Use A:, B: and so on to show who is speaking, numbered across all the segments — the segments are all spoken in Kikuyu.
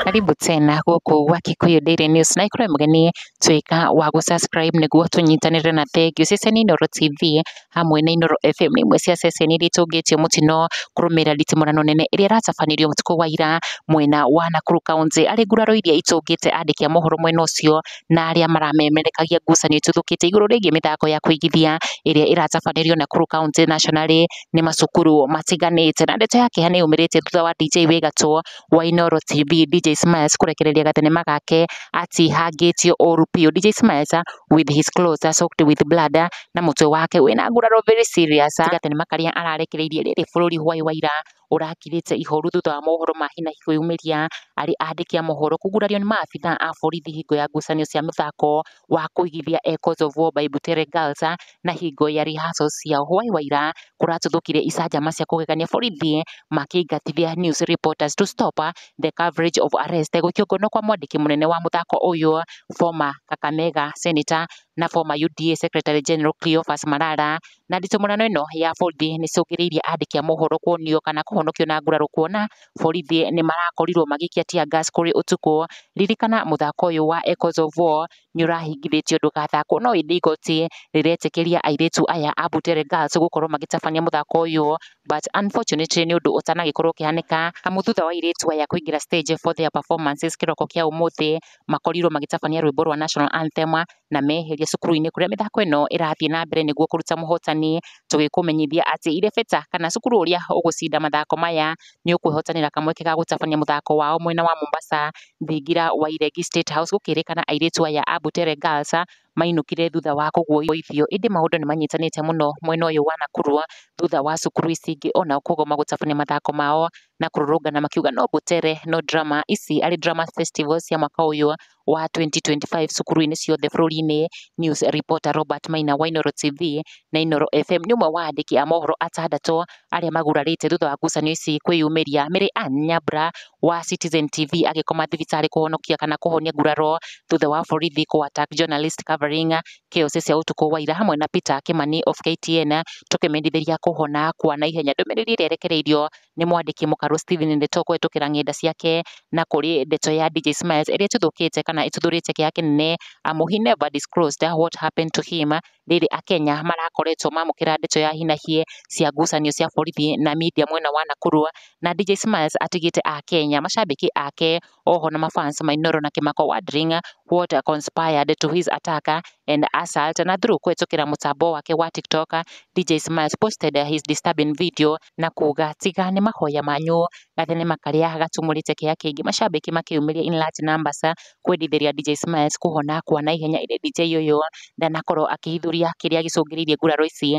A: Karibu tena gũkũ gwa Kikuyu Daily News na ikorwo mũgeni tuĩka wa gũ subscribe nĩguo tũnyitanĩre na thengiũ ceceni Inooro TV hamwe na Inooro FM nĩ imwe cia ceceni iria itũngĩtie mũtino kũrũmĩrĩra nditimũrano nene ĩrĩa ĩratabanirio ũtukũ wa ira mwena wa Nakuru County. Harĩ nguraro iria itũngĩte andĩki a mohoro mwena ũcio na arĩa maramemerekagia ngucanio ituthũkĩte igũrũ rĩgiĩ mĩthako ya kũigithia ĩrĩa ĩratabanĩrio Nakuru County Nationally nĩ macukuru matiganĩte. Na ndeto ya kĩeha nĩ yumĩrĩte thutha wa DJ wĩ gatũ wa Inooro TV DJ Smiles kũrekereria gathenema gake atihangĩtio ũru biũ. DJ Smiles with his clothes are soaked with blood na mũtwe wake wĩna nguraro very serious. Gathenema karĩa ararekereirie rĩrĩ bũrũri Huai wa ira ũrakirĩte ihoru thutha wa mohoro ma hinahi kwĩyumĩria arĩ andĩki a mohoro kũgurario nĩ maabithaa a borithi hingo ya ngucanio cia mĩthako wa kũigithia Echoes of War by Butere Girls na hingo ya rehearsals cia hwaĩ wa ira kũratuthũkire icanjama cia kũgegania borithi makĩingatithia news reporters to stop the coverage of arrest gũikio ngono kwa mwandĩki mũnene wa mũthako ũyũ former Kakamega senator na former UDA secretary general Cleophas Marara Na nditimũrano ĩno ya borithi nĩ ĩcũngĩrĩirie andĩki a mohoro kuonio kana kũhonokio na nguraro kuona borithi nĩ marakorirwo magĩikia tear gas kũrĩ ũtukũ. Ririkana mũthako ũyũ wa Echoes of War nĩ ũrahingithĩtio ndũgathakwo no ĩndĩ igoti rĩretĩkĩria airĩtu aya a Butere Girls gũkorwo magĩtabania mũthako ũyũ but unfortunately nĩ ũndũ ũtanagĩkorwo ũkĩhanĩka amu thutha wa airĩtu aya kũingĩra stage for their performances kĩroko kĩa ũmũthĩ makorirwo magĩtabania rwĩmbo rwa National Anthem na meherio cukuru-inĩ kũrĩa mĩthako ĩno ĩrathiĩ na mbere nĩguo kũruta mũhotani. Tũgĩkũmenyithia atĩ Ireveta kana cukuru ũrĩa ũgũcinda mathako maya nĩ ũkwĩhotanĩra kamweke ga gũtabania mũthako wao mwena wa Mombasa thingira wa Iregi State House gũkĩrĩkana airĩtu aya a Butere Girls mainũkire thutha wa kũguoithio. Ĩndĩ maũndũ nĩ manyitanĩte mũno mwena ũyũ wa Nakuru thutha wa cukuru ici ingĩ onao kũgoma gũtabania mathako mao na kũrũrũngana makiuga no Butere no drama. Ici arĩ drama festivals cia mwaka ũyũ wa 2025 cukuru-inĩ ciothe bũrũri-inĩ, News Reporter Robert Maina wa Inooro TV na Inooro FM nĩ ũmwe wa andĩki a mohoro atandatũ arĩa magurarĩte thutha wa ngucanio ici kwĩyumĩria. Mary Ann Nyambura wa Citizen TV agĩkoma thibitarĩ kũhonokia kana kũhonia nguraro thutha wa borithi kũ attack journalist covering chaos cia ũtukũ wa ira hamwe na Peter Kimani of KTN tũkĩmendithĩria kũhona kwa naihenya. Ndũmĩrĩri ĩrĩa ĩrekereirio nĩ mwandĩki mũkarũ Stephen Ndeto kũhetũkĩra ng'enda ciake na kũrĩ ndeto ya DJ Smiles ĩrĩa ĩtuthũkĩte kana ĩtuthũrĩte kĩeha kĩnene amu he never disclosed what happened to him rĩrĩ Akenya marakoretwo mamũkĩra ndeto ya hinahie cia ngucanio cia borithi na media mwena wa Nakuru na DJ Smiles atigĩte Akenya macambĩki ake Oho na mafans ma Inooro na Kĩmako wondering what conspired to his attack and assault na through kũhetũkĩra mũtambo wake wa TikTok, DJ Smiles posted his disturbing video na kuuga tiga nĩ mahoya manyu, gathenema karĩa gatumũrĩte kĩeha kĩingĩ macambĩki makĩyumĩria in large numbers kwendithĩria DJ Smiles kũhona kwa naihenya ĩndĩ DJ ũyũ ndanakorwo akĩhithũria kĩrĩa gĩcũngĩrĩirie nguraro ici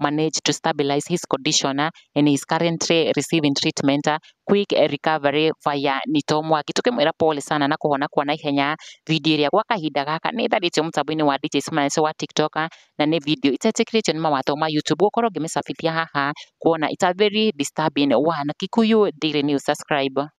A: managed to stabilize his condition and he is currently receiving treatment quick recovery via Nito Mwaki tukimwira pole sana na kuhona kwa na ihenya video ĩrĩa gwa kahinda gaka nĩ ĩtharĩtio mũtambo-inĩ wa DJ Smiles wa TikTok na nĩ video itetĩkĩrĩtio nĩ mawatho ma YouTube gũkorwo ngĩmĩcabithia haha kuona it's a very disturbing one Kikuyu Daily News subscribe